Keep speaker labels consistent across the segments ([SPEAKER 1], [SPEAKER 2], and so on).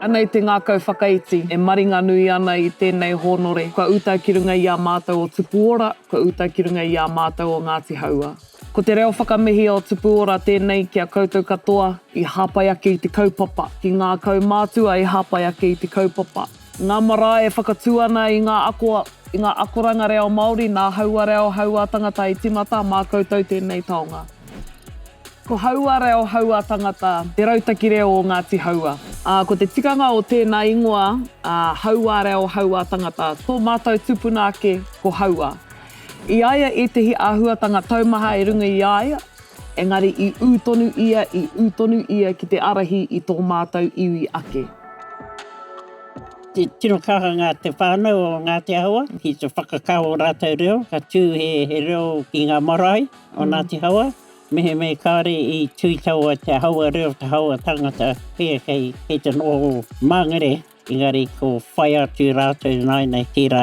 [SPEAKER 1] Ana i te ngākau whakaiti e maringanui ana i tēnei hōnore, kua uta ki runga i a mātou o Tupuora, kua uta ki runga i a mātou o Ngāti Hauā. Ko te reo whakamihia o Tupuora tēnei ki a koutou katoa i hāpai ake i te kaupapa, ki ngā kaumātua i hāpai ake i te kaupapa. Ngā marae e whakatū ana i ngā ako, i ngā akoranga reo Māori, nā haua reo, haua tangata i timata, mā koutou tēnei taonga. Ko haua reo, haua tangata te rautaki reo o Ngāti Haua, ā, ko te tikanga o tēnā ingoa, ā, haua reo, haua tangata, tō mātou tupuna ake ko haua. I a ia ētehi āhuatanga taumaha i runga i a ia, Engari i ū tonu ia, i ū tonu ia ki te ārahi i tō mātou iwi ake. Tino kaha ngā te whānau o Ngāti Ahawa ki te whakakao o rātou reo, ka tū he reo ki ngā marae o Ngāti Hawa, mehemea kāore i tū i taua te Hawa reo, te Hawa tangata, kei te noho māngere. Engari ko whai atu rātou nāinei tērā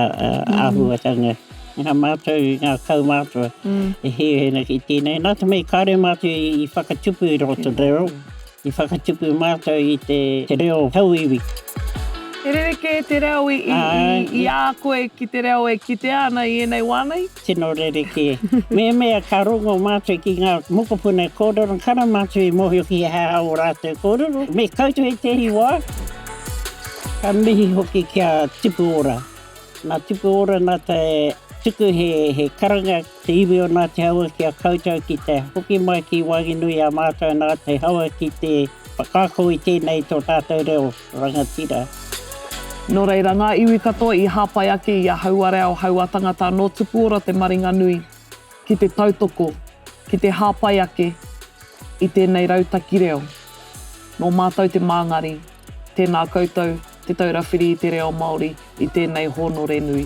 [SPEAKER 1] āhuatanga. Mm. Nā mātou, nā kaumātua, mm. e hēhēna ki tēnei. Nā te mei kāre mātou i whakatupu i roto mm. reo, i whakatupu mātou i te, te reo hauiwi. E rerekē te reo i, i, i, i a koe ki te reo e kitea ana i ēnei wānei? Tino rerekē. Mēmea ka rongo mātou ki ngā mokopuna e kōrero, kara mātou i mōhio ki he aha ō rātou kōrero. Me koutou i tēhi wā, ka mihi hoki ki a Tipu Ora. Nā Tipu Ora nā te tuku he karanga te iwi o Ngāti Hauā ki a koutou ki te hoki mai ki Wānginui i a mātou nā te hau ki te whakaako i tēnei tō tātou reo. Rangatira. Nō reira, ngā iwi katoa i hāpai ake i a Hauareao Haua Tangata anō tuku ora te maringa nui ki te tautoko, ki te hāpai ake i tēnei rautaki reo. Nō mātou te māngari, tēnā koutou Te Taura Whiri i te Reo Māori i tēnei hōnore nui.